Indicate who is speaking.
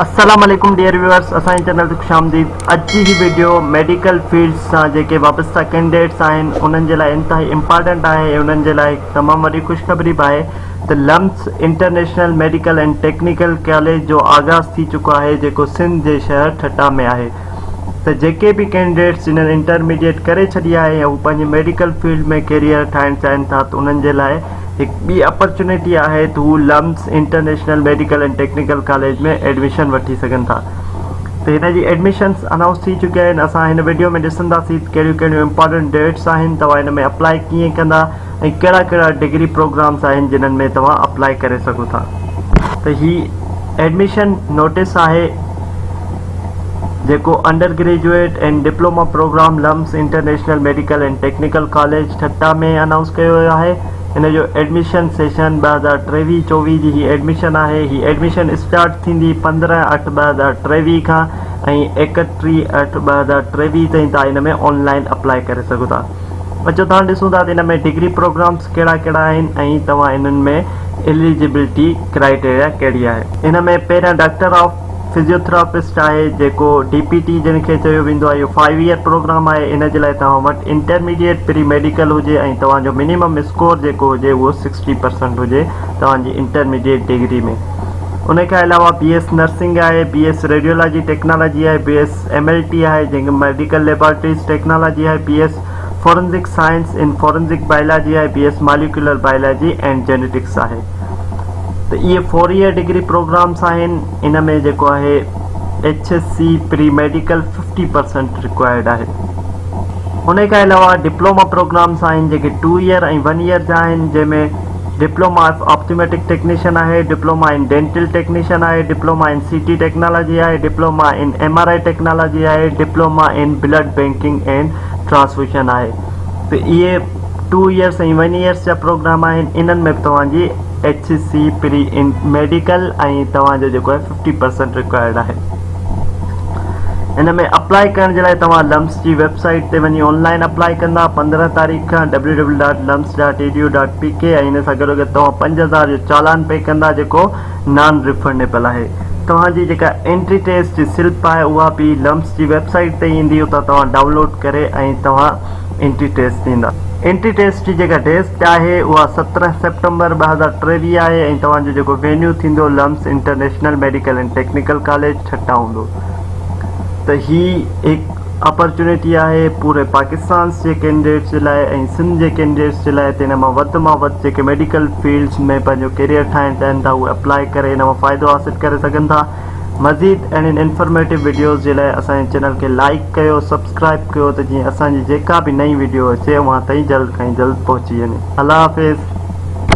Speaker 1: السلام عليڪم dear viewers اسان جي چينل تي خوش آمديد اڄ جي هي ويڊيو ميڊيڪل فيلڊ سان جيڪي وابسته ڪينڊيڊيٽس آهن انهن جي لاء انتهائي امپارٽنٽ آهي ۽ انهن جي لاء تمام وڏي خوشخبري به آهي ته LUMS international medical and technical college جو آغاز ٿي چڪو آهي جيڪو سنڌ جي شهر ٺٽا ۾ آهي ته جيڪي به ڪينڊيڊيٽس جنهن انٽرميڊيٽ ڪري ڇڏي آهي يا هو پنهنجي ميڊيڪل فيلڊ ۾ ڪيريئر ٺاهڻ چاهين ٿا ته انهن جي لاء هڪ ٻي اپرچونيٽي آهي ته هو LUMS international medical and technical college ۾ admission وٺي سگهن ٿا ته هن جي ايڊميشنس انائونس ٿي چڪي آهن اسان هن وڊيو ۾ ڏسنداسين ته ڪهڙيون ڪهڙيون امپارٽنٽ ڊيٽس آهن توهان هن ۾ اپلائي ڪيئن ڪندا ۽ ڪهڙا ڪهڙا ڊگري پروگرامس آهن جنهن ۾ توهان اپلائي ڪري سگهو ٿا ته هي ايڊميشن نوٽس آهي جيڪو undergraduate ۽ diploma program LUMS international medical ۽ technical college Thatta ۾ announce ڪيو ويو آهي ان جو ايڊميشن سيشن 2023-24 جي هي ايڊميشن آهي هي ايڊميشن اسٽارٽ ٿيندي 15/8/2023 کان ۽ 31/8/2023 تائين تان ان ۾ آن لائين اپلائي ڪري سگهو ٿا اچو تان ڏسون ٿا ته ان ۾ ڊگري پروگرامس ڪهڙا ڪهڙا آهن ۽ توهان انهن ۾ اليجبلٽي ڪرائيٽيريا ڪهڙي آهي ان ۾ پهريان ڊاڪٽر آف فزيوٿراپسٽ آهي جيڪو ڊي پي ٽي جنھن کي چيو ويندو آهي اهو فائيو ايئر پروگرام آهي ان جي لاء توهان وٽ انٽرميڊيئيٽ پري ميڊيڪل هجي ۽ توهان جو منيمم اسڪور جيڪو هجي اهو سڪسٽي پرسنٽ هجي توهان جي انٽرميڊيئيٽ ڊگري ۾ ان کان علاوه بي ايس نرسنگ آهي بي ايس ريڊيولاجي ٽيڪنالاجي آهي B S M L T آهي جنھن کي ميڊيڪل ليبارٽريز ٽيڪنالاجي آهي B S forensic science in forensic biology آهي B S molecular biology and genetics آهي. ته اهي فور ايئر ڊگري پروگرامس آهن ان ۾ جيڪو آهي H S C pre medical 50% required آهي انهي کان علاوه ڊپلوما پروگرامس آهن جيڪي ٽو ايئر ۽ ون ايئر جا آهن جنهن ۾ ڊپلوما آف آپٿميٽڪ ٽيڪنيشن آهي ڊپلوما ان ڊينٽل ٽيڪنيشن آهي diploma in C T technology آهي diploma in M R I technology آهي diploma in blood banking and transfusion آهي ته اهي ٽو ايئرس ۽ ون ايئرس جا پروگرام آهن انهن ۾ به توهان جي ايڇ ايس سي پري انٽ ميڊيڪل ۽ توهان جو جيڪو آهي ففٽي پرسينٽ رڪوائرڊ آهي ان ۾ اپلاء ڪرڻ جي لاء توهان لمس جي ويب سائيٽ تي وڃي آن لائن اپلاء ڪندا پندرهن تاريخ کان W W dot LUMS dot E D U dot P K ۽ ان سان گڏو گڏ توهان پنج هزار جو چالان پي ڪندا جيڪو نان ريفنڊيبل آهي توهان جي جيڪا انٽري ٽيسٽ جي سلپ آهي اها به لمس جي ويب سائيٽ تي ايندي اتان توهان ڊائون لوڊ ڪري ۽ توهان اينٽي ٽيسٽ ٿيندا. اينٽي ٽيسٽ جي جيڪا ڊيٽ آهي اها سترهن سيپٽمبر ٻه هزار ٽيويهه آهي ۽ توهان جو جيڪو وينيو ٿيندو LUMS international medical and technical college Thatta هوندو ته هي هڪ اپرچونيٽي آهي پوري پاڪستانس جي ڪينڊيڊيٽس جي لاء ۽ سنڌ جي ڪينڊيڊيٽس جي لاء ته ان مان وڌ مان وڌ جيڪي ميڊيڪل فيلڊس ۾ پنهنجو ڪيريئر ٺاهڻ چاهين ٿا اهي اپلائي ڪري ان مان فائدو حاصل ڪري سگهن ٿا. مزيد اهڙين انفرميٽو وڊيوز جي لاء اسان جي چينل کي لائيڪ ڪيو سبسڪرائيب ڪيو ته جيئن اسان جي جيڪا به نئين وڊيو اچي اوهان تائين جلد کان جلد پهچي وڃي الله حافظ.